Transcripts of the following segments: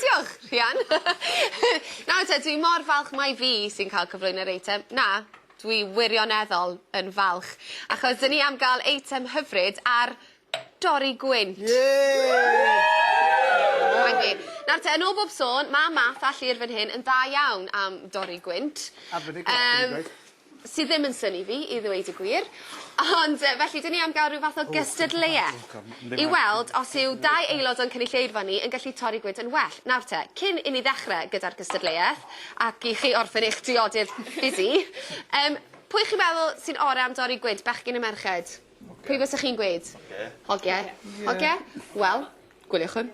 Diolch, Rhian. Nawr te, dwi mor falch mai fi sy'n cael cyflwyno'r eitem. Na, dwi wirioneddol yn falch, achos 'dyn ni am ga'l eitem hyfryd ar dorri gwynt. Yay! Thank you. Nawr te, yn ôl bob sôn, ma' Math a Llŷr fan hyn yn dda iawn am dorri gwynt. A feddyg lot, dwi 'di gweud. Yym. sydd ddim yn synnu fi i ddweud y gwir, ond yy felly 'dyn ni am ga'l ryw fath o gystadleueth i weld os yw dau aelod o'n cynulleidfa ni yn gallu torri gwyd yn well. Nawr te, cyn i ni ddechre gyda'r gystadleueth, ac i chi orffen eich diodydd busy, yym pwy chi'n meddwl sy'n ore' am dorri gwyd, bechgyn ne' merched? Pwy fysa chi'n gweud? Hogie. Hogie? Hogie? Wel, gwyliwch hwn.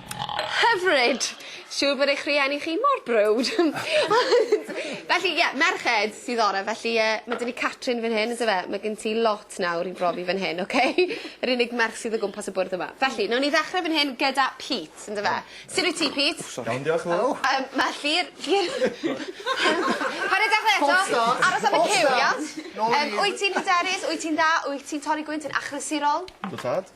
Hyfryd! Siŵr bod eich rhieni chi mor browd. Ond felly ie merched sydd ore' felly yy ma' 'da ni Catrin fan hyn on'd yfe? Ma' gen ti lot nawr i brofi fan hyn oce? Yr unig merch sydd o gwmpas y bwrdd yma. Felly newn ni ddechre fan hyn gyda Pete on'd yfe? Sud wyt ti Pete? O sori. Iawn diolch yn fowr. Yym ma' Llyr Llyr Paid a dechre eto. False start. Aros am y cyw iawn? Nôl i fi. Yym wyt ti'n hyderus wyt ti'n dda wyt ti'n torri gwynt yn achlysurol? Yndw tad.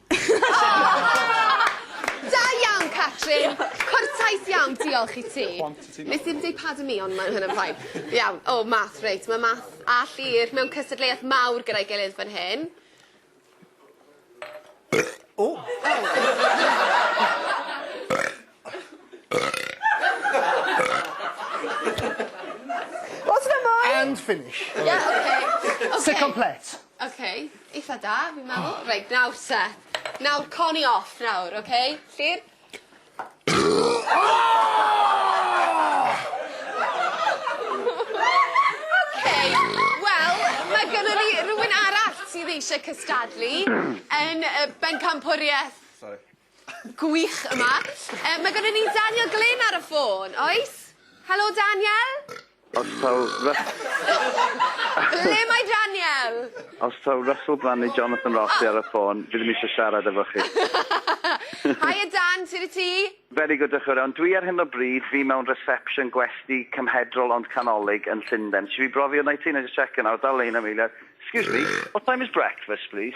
Da iawn, Catrin! Cwrtais iawn, diolch i ti. Nes i'm deud pardon me, ond mae hynna'n fine. Iawn, o, oh, math, reit, mae math a llir mewn cystadleuaeth mawr gyda'i gilydd fan hyn. O! Oh. O's 'na mwy? And finish. Ie oce. Oce. C'est complet. Oce eitha da fi'n meddwl. Reit nawr te. Nawr con i off nawr oce? Lly'r... Oce wel ma' gynnon ni rywun arall sydd eisiau cystadlu yn yy bencampwrieth... Sori. Gwych yma. Yy ma' gynnon ni Daniel Glyn ar y ffôn, oes? Helo Daniel? Os taw Ry-... Ble mae Daniel? Os taw Russell Brand neu Jonathan Ross sy ar y ffôn, fi ddim isio siarad efo chi. Haia Dan, sut y ti? Very good, diolch yn fawr iawn. Dwi ar hyn o bryd, fi mewn reception gwesty cymhedrol ond canolig yn Llunden. Isio fi brofi hwnna i ti? Wna i jyst checio nawr, dal lein am eiliad. Excuse me, what time is breakfast please?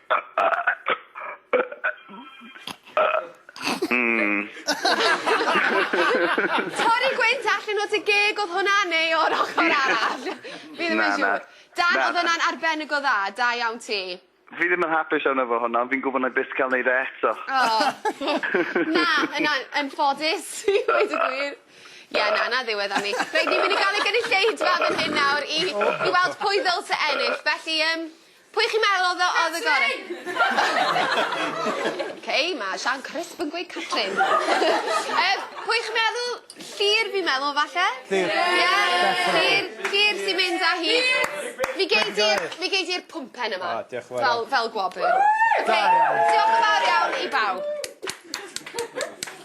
Hmm. Torri gwynt allan o dy geg odd hwnna neu o'r ochor arall? Fi ddim yn siŵr. Na na. Dan odd hwnna'n arbennig o dda, da iawn ti. Fi ddim yn hapus arno fo hwnna ond fi'n gwbo nâi byth ca'l neud e eto. O! Na yn an- yn ffodus i ddweud y gwir. Ie na 'na ddiwedd arni. Reit ni myn' i ga'l y gynulleidfa fan hyn nawr i i weld pwy ddylse ennill felly yym Pwy chi'n meddwl odd y odd y gore? Catrin! Ok ma' Sian Crisp yn gweud Catrin. Yym pwy chi'n meddwl? Llŷr fi'n meddwl falle? Llŷr. Ie? Llŷr Llŷr sy'n mynd â hi. Fi gei di'r fi gei di'r pwmpen yma. O diolch yn fawr. Fel fel gwobr. Oce. Da iawn. Diolch yn fawr iawn i bawb.